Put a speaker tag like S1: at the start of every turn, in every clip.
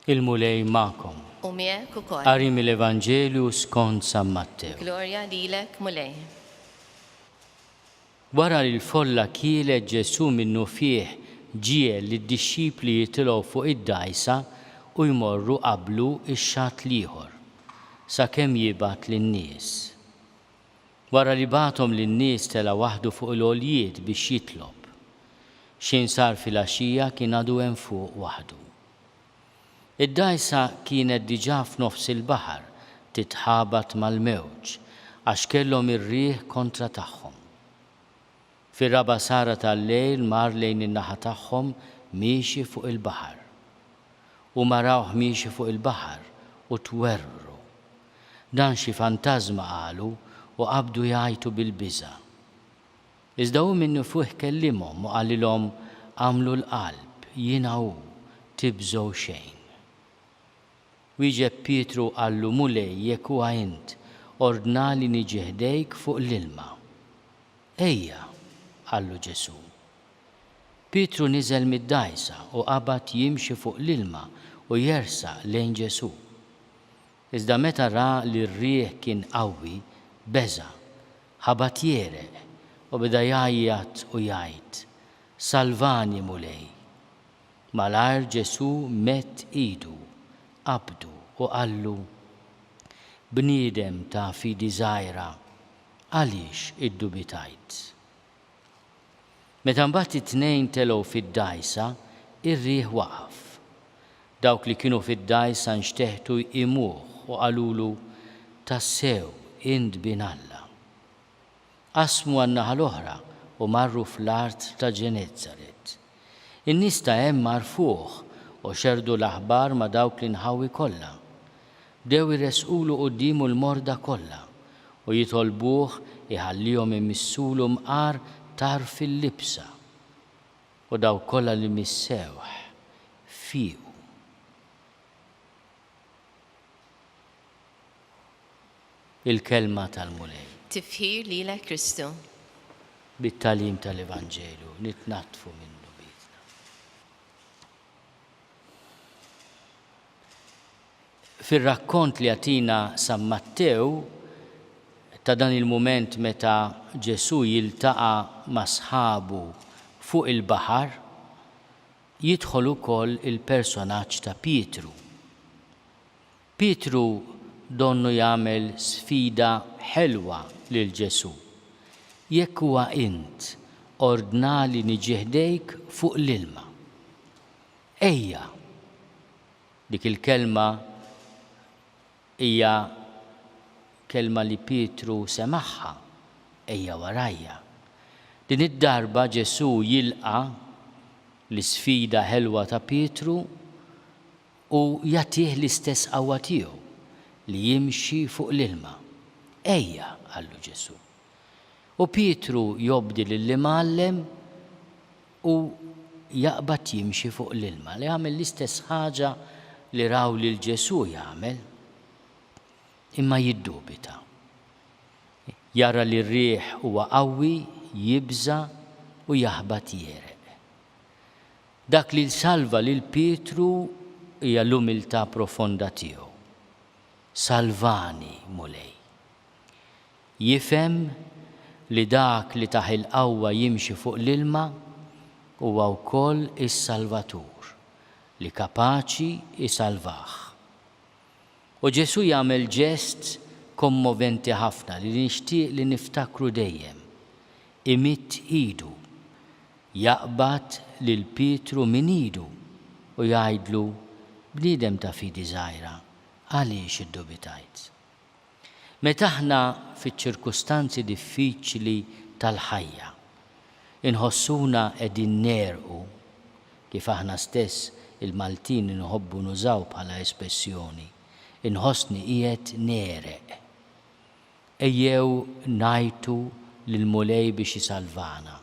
S1: Il-Mulej magħkom. U miegħek ukoll.
S2: Qari mill-Evanġelju
S1: skont San Mattew. Glorja lilek,
S2: Mulej.
S1: Wara li l-folla kielet Ġesù minnufih ġiegħel lid-dixxipli jitilgħu fuq id-dgħajsa u jmorru qablu x-xatt l-ieħor, sakemm jibgħat lin-nies. Wara li bagħathom lin-nies tela' waħdu fuq il-għoljiet biex jitlob. X'inhsar filgħaxija kien għadu hemm fuq waħdu. Id-dgħajsa kienet diġà f'nofs il-baħar titħabat mal-mewġ għax kellhom ir-riħ kontra tagħhom. Fir-raba' sahra tal-lejl mar lejn in-naħa tagħhom miexi fuq il-baħar. Huma rawh miexi fuq il-baħar u twerwru. Dan xi fantażma qalu u qabdu jgħajtu bil-biża'. Iżda hu minnufih kellimhom u qalilhom, Agħmlu l-qalb, jiena hu, tibżgħu xejn. Wieġeb Pietru u qallu, Mulej, jekk huwa int, ordnali niġi ħdejk fuq l-ilma. Ejja, qallu Ġesù. Pietru niżel mid-dgħajsa u qabad jimxi fuq l-ilma u jersaq lejn Ġesù. Iżda meta ra li r-riħ kien qawwi, beża', ħabat jegħreq, u beda jgħajjat u jgħid, Salvani, Mulej! Malajr Ġesù medd idu, qabdu u qallu, Bniedem ta' fidi żgħira, għaliex iddubitajt? Meta mbagħad it-tnejn telgħu fid-dgħajsa, ir-riħ waqaf. Dawk li kienu fid-dgħajsa nxteħtu jqimuh u qalulu, Tassew, int Bin Alla. Qasmu għan-naħa l-oħra u marru fl-art ta' Ġenezzaret. In-nies ta' hemm għarfuh u xerrdu l-aħbar ma' dawk l-inħawi kollha. Bdew iressqulu quddiemu l-morda kollha u jitolbuh iħallihom imissulu mqar tarf il-libsa. U dawk kollha li missewh, fiequ. Il-Kelma tal-Mulej. Tifħir lilek
S2: Kristu.
S1: Bit-tagħlim tal-Evanġelju nitnaddfu minn dnubietna. Fir-rakkont li jagħtina San Mattew ta' dan il-mument meta Ġesù jiltaqa' ma' sħabu fuq il-baħar, Jidħol ukoll il-personaġġ ta' Pietru. Pietru donnu jagħmel sfida ħelwa lil Ġesù, Jekk huwa int, ordnali niġi ħdejk fuq l-ilma. Ejja! Dik il-kelma Hija kelma li Pietru semagħha, Ejja warajja. Din id-darba Ġesù jilqa' l-isfida ħelwa ta' Pietru u jagħtih l-istess qawwa tiegħu li jimxi fuq l-ilma. Ejja, qallu Ġesù. U Pietru jobdi lill-Imgħallem. Hu jaqbad jimxi fuq l-ilma, li għamel l-istess ħaġa li raw lil Ġesù jagħmel, imma jiddubita. Jara li r-riħ huwa qawwi, jibża' u jaħbat jegħreq. Dak li salva lil Pietru hija l-umiltà profonda tiegħu, Salvani, Mulej! Jifhem li dak li tah il-qawwa jimxi fuq l-ilma huwa wkoll is-Salvatur li kapaċi jsalvah. U Ġesù jagħmel ġest kommoventi ħafna li nixtieq li niftakru dejjem, imidd idu, jaqbad lil Pietru minn idu u jgħidlu, Bniedem ta' fidi żgħira, għaliex iddubitajt? Meta aħna fiċ-ċirkustanzi diffiċli tal-ħajja inħossuna qegħdin negħrqu, kif aħna stess il-Maltin inħobbu nużaw bħala espessjoni, inħossni qiegħed negħreq. Ejjew ngħajtu lill-Mulej biex isalvana.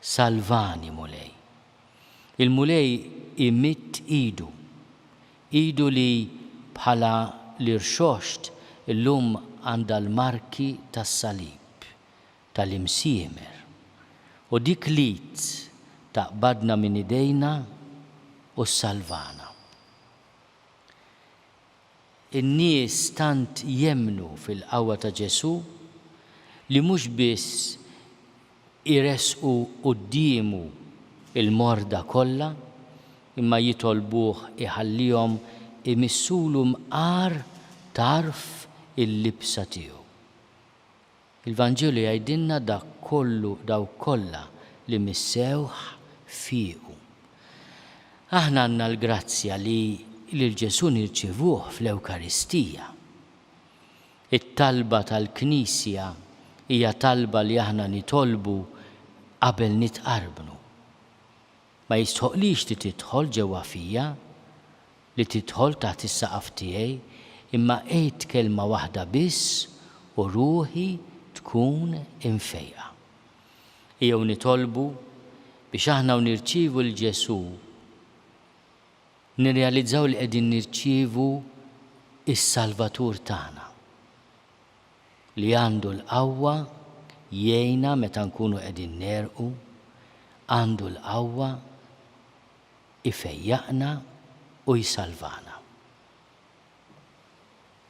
S1: Salvani, Mulej. Il-Mulej imidd idu. Idu li, bħala l-Irxoxt, illum għandha l-marki tas-Salib, tal-Imsiemer. U dik l-id taqbadna minn idejna u ssalvana. In-nies tant jemmnu fil-qawwa ta' Ġesù li mhux biss iressqu quddiemu l-morda kollha, imma jitolbuh iħallihom imissulu mqar tarf il-libsa tiegħu. Il-Vanġelu jgħidilna dak kollu dawk kollha li missewh fiequ. Aħna għandna l-grazzja li lil Ġesù nirċievuh fl-Ewkaristija. It-talba tal-Knisja hija talba li aħna nitolbu qabel nitqarbnu. Ma jistħoqqlix li tidħol ġewwa fija, li tidħol taħt is-saqaf tiegħi, imma għidt kelma waħda biss u ruħi tkun imfejqa. Ejjew nitolbu biex aħna u nirċievu 'l Ġesù. Nirrealizzaw li qegħdin nirċievu s-Salvatur tagħna, li għandu l-qawwa jgħinna meta nkunu qegħdin negħrqu, għandu l-qawwa jfejjaqna u jsalvana.